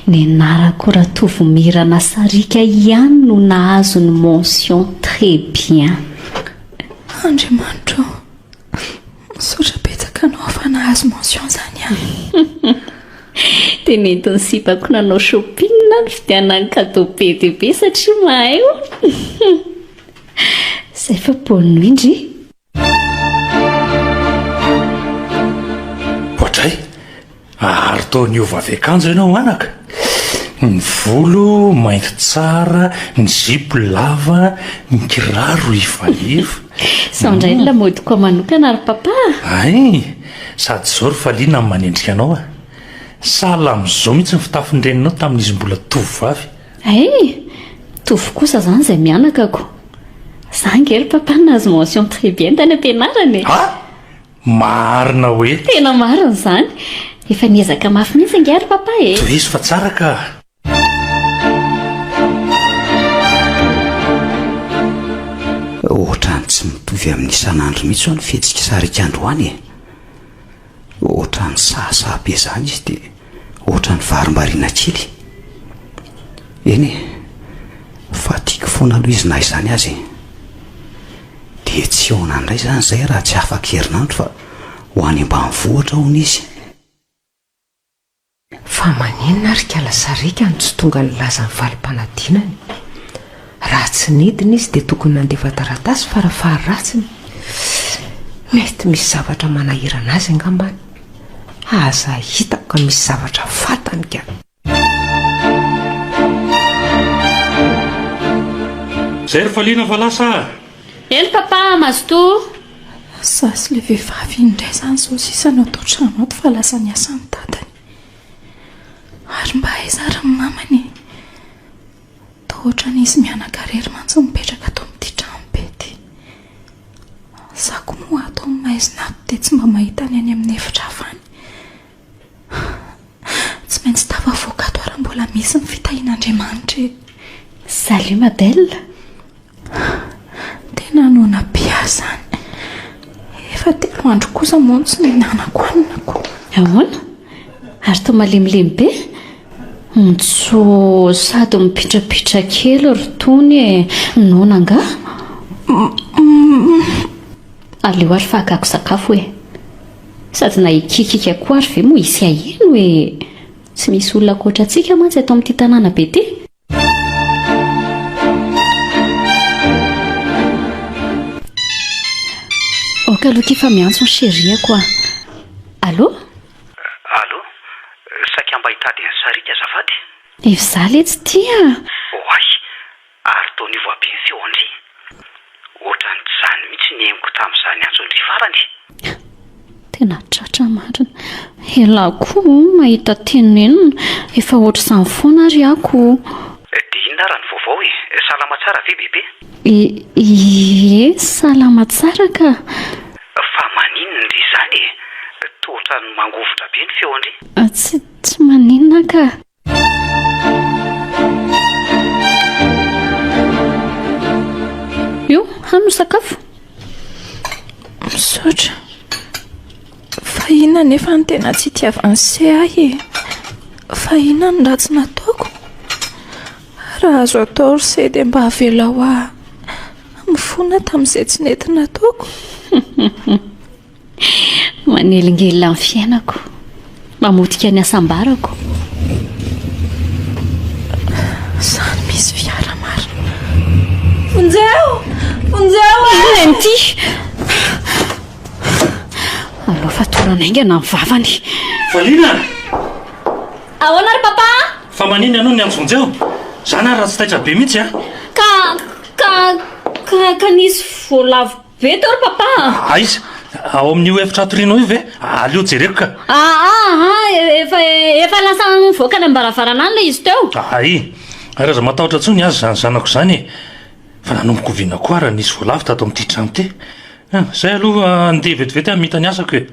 ny anarako Ratovomirana Sariaka ihany no nahazo ny mention très bien! Andriamanitro ô, misaotra betsaka anao afa nahazo mention zany aho. Dia nentin'ny sipako nanao shopping aho nividianana ny cadeau be dia be satria mahay ô. Zay fa bonne nuit ndry. Oadray, Ary toa niova avy akanjo ianao anaka, ny volo mainty tsara, ny zipo lava, ny kiraro ivaiva. Sao indray ny lamaody ko manokana ry Papa a! Hay! Sady izao ry Faliana no manendrika anao a! Sahala amin'izao mihitsy ny fitafin'ny reninao tamin'izy mbola tovovavy. Hay! Mitovy kosa izany izay mianakako. Za ange ry Papa no nahazo mention très bien tany am-pianarana e! Ha? Maharina hoe. Tena marina izany. Efa niezaka mafy mihitsy ange ry papa e. Tohizo fa tsara ka. Ohatrany tsy mitovy amin'ny isan'andro mihitsy ho'a ny fihetsik'i Sarika androany e! Ohatrany sahasaha be izany izy dia. ohatran'ny varimbariana kely. Eny e, fa tiako foana aloha izy na izany aza e. Dia tsy eo nandray izany izahay raha tsy afak'herinandro fa ho any ambanivohitra hono izy. Fa maninona ary kala sariaka no tsy tonga nilaza ny valim-panadinany? Raha tsy nidina izy dia tokony nandefa taratasy farafaha-ratsiny. Mety misy zavatra manahirana azy angambany. Aza hitako ka misy zavatra fantany ka. Izay ry Faliana fa lasa ah! Eny papa, mazotoa. Za sy ilay vehivavy iny indray izany izao sisa no ato an-trano ato fa lasa niasa ny dadany. Ary mba aiza ary ny mamany e? Toa otrany izy mianaka rery mantsy mipetraka ato amin'ity trano be ity. Za ko moa ato amin'ny maizina ato dia tsy mba mahita ny any amin'ny efitra hafa any. Tsy maintsy tafavoaka ato aho raha mbola misy ny fitahian'Andriamanitra e. Salut ma belle. Tena noana be ahy izany. Efa telo andro kosa moa no tsy nihinanako hanina ko. Ahoana? Ary toa malemilemy be? Ontso, sady mipitrapitra kely ry Tony e. Noana angaha? Aleo ary fa hakako sakafo e. Sady na hikiakiaka koa ary ve moa hisy haheno e. Tsy misy olona ankoatra antsika mantsy eto amin'ity tanàna be ity. Aoka aloha ity fa miantso ny cheriako an. Allô? Allô? Saika mba hitady an'i Sariaka azafady. Efa izaho letsy ity an! Oay! Ary toa niova be ny feony re! Ohatran'ny tsy izany mihitsy ny henoko tamin'izany antsondry farany e! Tena tratra marina. Elah koa oh mahita tenenina, efa ohatr'izany foana ary ako oh. Dia inona ary ny vaovao e? Salama tsara ve bebe? Ie, salama tsara ka. Fa maninona ndry izany e? Toa ohatran'ny mangovitra be ny feony. Tsy maninona ka. Io, hano sakafo. Misaotra. Fa inona nefa ny tena tsy itiavan'i Se ahy e. Fa inona ny ratsy nataoko? Raha azo atao ry Se dia mba avelao aho mifona tamin'izay tsy nety nataoko. Manelingelina ny fiainako, mamotika ny hasambarako. Samy misy fiara marina. Vonjeo! Vonjeo! Inona ity? Alao fatorana haingana ny vavany. Valiana! Ahoana ry papa? Fa manina ianao ny an'i Vonjeo? Zany ary raha tsy taitra be mihitsy an! Ka, ka, ka, ka nisy voalavo Ve to ry papa a? Aiza? Ao amin'io efitra hatorianao io ve? Aleo jereko ka. Aa a, efa efa lasa nivoaka any am-baravarana any ilay izy teo. Ay, ary aza matahotra intsony aza izany zanako izany e. Fa nanomboka oviana koa ary raha nisy voalavo tato amin'ity trano ity? An, izay aloha handeha vetivety aho hamita ny asako e.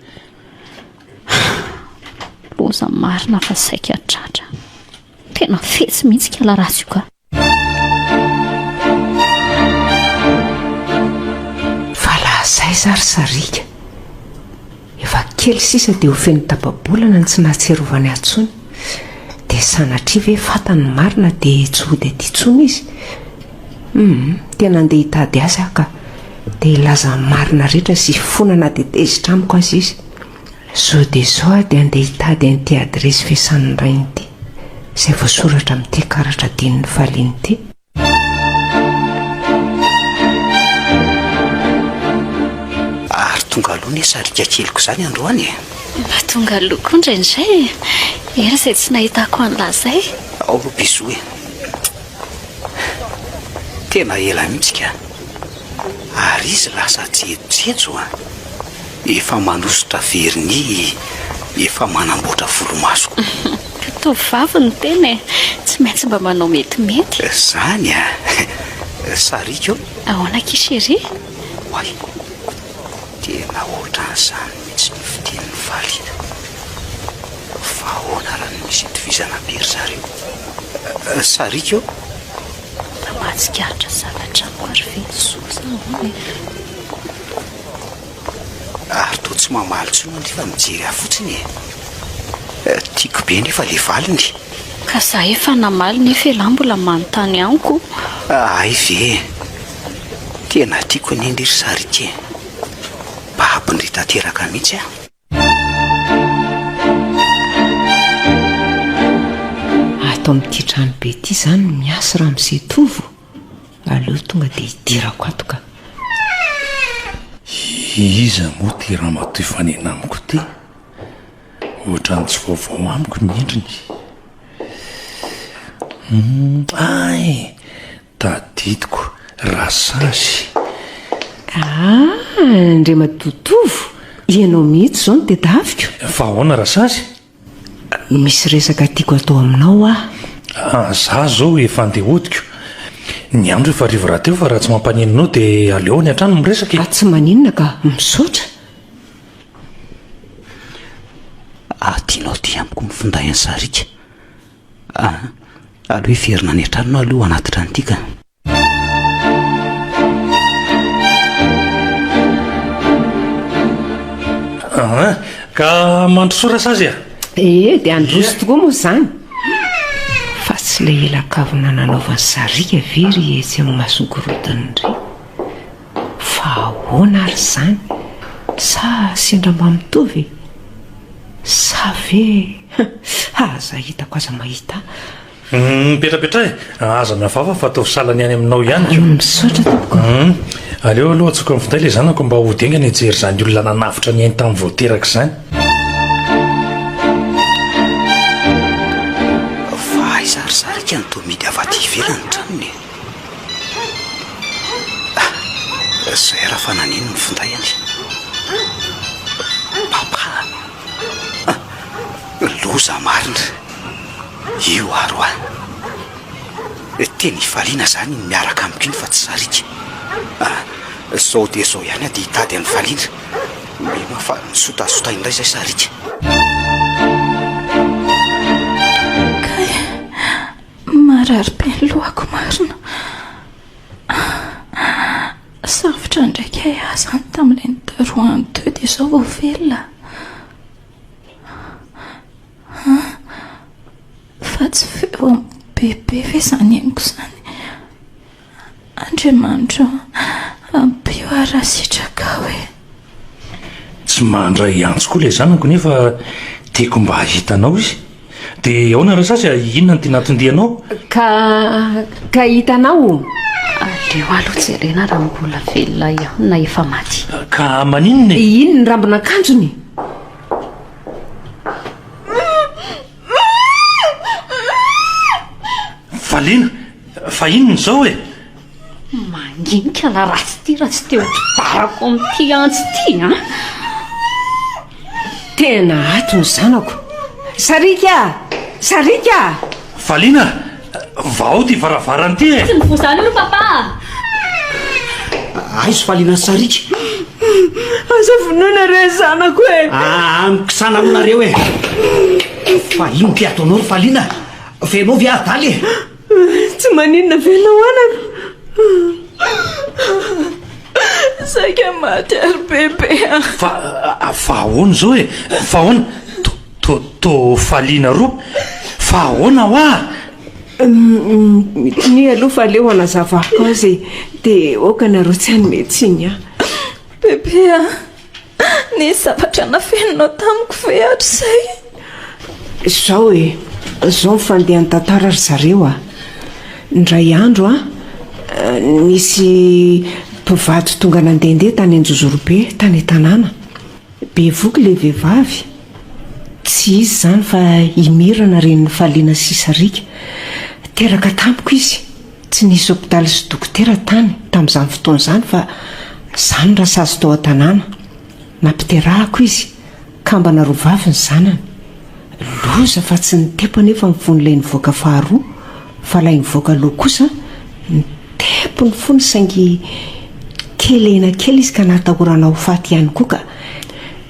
Loza marina fa saika tratra. Tena fetsy mihitsy kala ratsy io ka. Aiza ry Sariaka? Efa kely sisa dia ho feno tapa-bolana ny tsy nahatsiarovany ahy intsony. Dia sanatria ve fantany marina dia tsy hody aty intsony izy? Hum, tena andeha hitady azy aho ka. Dia hilaza ny marina rehetra sy hifonana dia tezitra amiko aza izy. Sao dia sao aho dia handeha hitady an'ity adiresy fiasan'ny rainy ity, izay voasoratra amin'ity karatra adinon'ny faliana ity. Ary tonga aloha anie sariaka keliko izany androany e! Mba tonga aloha koa indraindray e! Ela izay tsy nahitako an'lah izay. Ao aloha bisous e! Tena ela mihitsy ka! ary izy lasa jejojejoo an! efa manosotra vernis, efa manamboatra volomaso koa. Tovovavy ny tena e! tsy maintsy mba manao metimety. Zany an! sariako an! Ahoana akia chérie? Oay! tena ohatran'izany mihitsy ny fitenin'i Valiana! fa ahoana raha ny misy itovizana be ry zareo? sariako an! Mba mahatsikaritra zavatra maro ve Jesoa sa ahoana e? Ary toa tsy mamaly intsony anefa fa mijery ahy fotsiny e! Tiako be anefa ilay valiny. Ka za efa namaly nefa elah mbola manontany amiko. Hay ve e! Tena tiako anie anie ry sary ity e! Babony tanteraka mihitsy aho. Ato amin'ity trano be ity izany no miasa Ramose Tovo? Aleo tonga dia hidirako ato ka. Iza moa ity ramatoa hifanena amiko ity? Ohatran'ny tsy vaovao amiko ny endriny. Hay! Tadidiko raha sazy. Aa! Andriamatoa Tovo, ianao mihitsy izao no tedaviko. Fa ahoana raha sazy? Misy resaka tiako hatao aminao aho. Aa! Za izao efa andeha hodiko. Ny andro efa hariva rahateo fa raha tsy mampaninona anao dia aleo any an-trano no miresaka e! Tsy maninona ka, misaotra. Aa! Tianao aty amiko ny finday an'i Sariaka? Ah, aleo hiverina any an-tranonao aloha hanatitra an'ity ka. Ah, ka mandrosoa sazy a? Ee, dia handroso tokoa moa izany. Fa tsy ilay ela kavina nanaovany sariaka ve ry etsy amin'ny mason-korontana ry? Fa ahoana ary izany? Sa sendra mba mitovy e? Sa ve ha aza hitako aza mahita ahy. Hum mipetrapetraha e! Aza miavava fa ataovy sahala ny any aminao ihany ko. Misaotra tompoko. Hum aleo aloha antsoiko amin'ny finday ilay zanako mba hody haingana hijery izany olona nanavotra ny ainy tamin'ny vao teraka izany. Fa aiza ary sariaka ny toa mihidy avy aty ivelan'ny tranony e? Ry Zohera fa naneno ny finday anie. Papa a! Loza marina io aro a! Tena hifaliana izany iny miaraka amiko iny fa tsy sariaka a! Izao dia izao ihany aho dia hitady an'i Faliana. Mino aho fa nisotasota indray izay sariaka. Kay! Marary be ny lohako marina. Safotra ndraika eh ah zany tamin'ireny darohany teo dia izao vao velona ah. Fa tsy feo amin'ny bebe ve izany henoko izany. Andriamanitro ô, ampio aho raha sitrakao e. Tsy mandray antso koa ilay zanako nefa tiako mba hahita anao izy. Dia ahoana raha sasy a, inona no tiana hatondianao? Ka, ka hitanao o. Aleo aloha jerena raha mbola velona ihany na efa maty. Ka maninona e? Iny ny rambon'akanjony. Valiana! Fa inona izao e? Manginika la raha tsy tia raha tsy te ho mpibarako amin'ity antsy ity an! Tena ato ny zanako! Sariaka! Sariaka! Valiana! Vao ao ty varavarana ty e! Tsy mivoha izany io ry Papa a! Aizo faliana sariaka. Aza vonoina re zanako e! Aa mikisana aloha nareo e! Fa inona ty ataonao ry Faliana? Fenao ve adala e? Tsy maninona ve ianao anaka? Saika maty ary Bebe a! Fa ahoana izao e? Fa ahoana? Tôtô Faliana roa, fa ahoana hoa? Minia aloha fa aleo anazavako azy e, dia aoka nareo tsy hanome tsiny ahy. Bebe a, nisy zavatra nafeninao tamiko ve hatrizay? Izao e, izao ny fandehan'ny tantara ry zareo a. Indray andro a, nisy mpivady tonga nandehandeha tany Anjozorobe, tany an-tanàna. Bevoky ilay vehivavy? Tsy izy izany fa i Mirana renin'i Faliana sy Sariaka. Teraka tamiko izy. Tsy nisy hopitaly sy dokotera tany tamin'izany fotoana izany fa izaho no rasazy tao an-tanàna. Nampiterahako izy, kambana roa vavy ny zanany. Loza fa tsy ny tempo anefa no fony ilay nivoaka faharoa fa ilay nivoaka aloha kosa ny tempo no fony saingy kelena kely izy ka nahatahorana ho faty ihany koa ka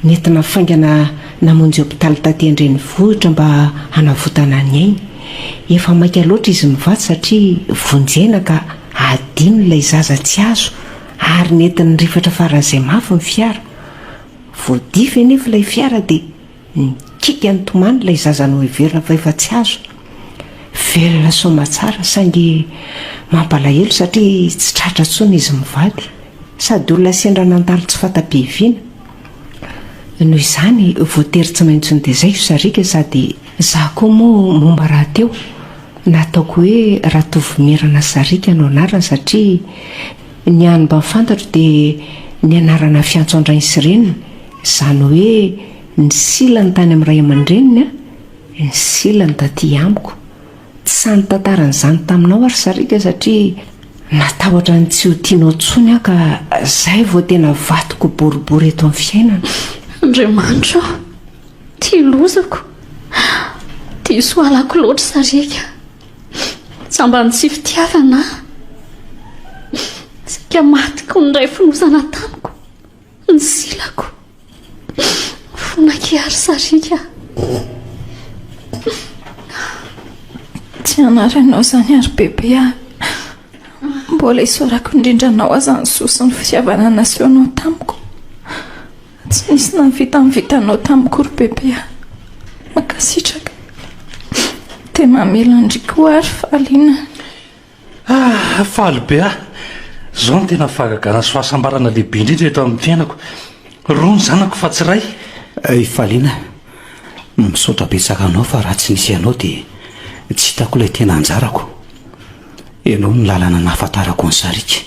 nety nafaingana namonjy hopitaly taty an-drenivohitra mba hanavotana ny ainy. Efa maika loatra izy mivatsy satria vonjena ka adino ilay zaza tsy azo ary nety nirifatra faran'izay mafy ny fiara. Voadify anefa ilay fiara dia Nikiky an'i Tomany ilay zaza noheverina fa efa tsy azo. Velona soamatsara saingy mampalahelo satria tsy tratra intsony izy mivady. Sady olona sendra nandalo tsy fanta-piaviana. Noho izany, voatery tsy maintsy notezaivo sariaka sady za koa moa momba rahateo nataoko hoe Ratovomerana Sariaka no anarany satria Ny hany mba fantatro dia ny anarana fiantso an-drainy sy reniny, izany hoe ny silany tany amin'ny ray aman-dreniny, ny silany taty amiko. Tsy nitantara an'izany taminao aho ry sariaka satria natahotra ny tsy ho tianao intsony aho ka izay vao tena vadiko boribory eto amin'ny fiainana. Andriamanitro ô! Tia lozako! Diso halako loatra sariaka! Sambany sy fitiavana aho. Saika maty koa ny ray fonosana tamiko. Ny silako. Fonak'i Ary Sariaka. Tsy hanary anao izany Ary Bebe ah. Mbola isaorako indrindra anao aza ny soa sy ny fitiavana nasehonao tamiko. Tsy nisy nahavitavita anao tamiko ry bebe a! Mankasitraka! Dia mamela an-dry koa ary Fahaliana a! Ah! Faly be aho! Izao no tena fahagagana sy fahasambarana lehibe indrindra eto amin'ny fiainako! Roa ny zanako fa tsy iray! I Fahaliana a! Misaotra betsaka anao fa raha tsy nisy ianao dia tsy hitako ilay tena anjarako! Ianao no lalana nahafantarako ny sariaka!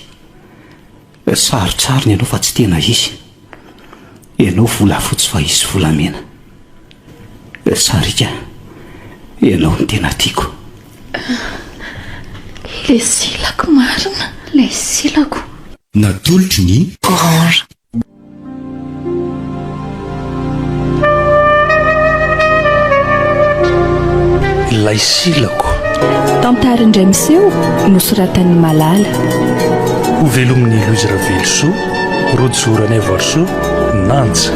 Sarotsarony ianao fa tsy tena izy. Ianao volafotsy fa izy volamena. Sariaka, ianao no tena tiako. Ilay silako marina. Ilay silako. Natolotry ny. Orange. Ilay silako Tantara indray miseho nosoratan'ny Malala Ho velomin'ny Louise Ravelosoa Rojo Ranaivoarisoa Nanja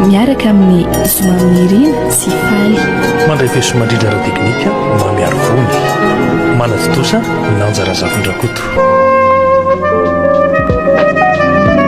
Miaraka amin'ny Zoma Mirina sy Faly Mandray feso mandrindra ara teknika Mamy Arivony Manatontosa Nanja Razafindrakoto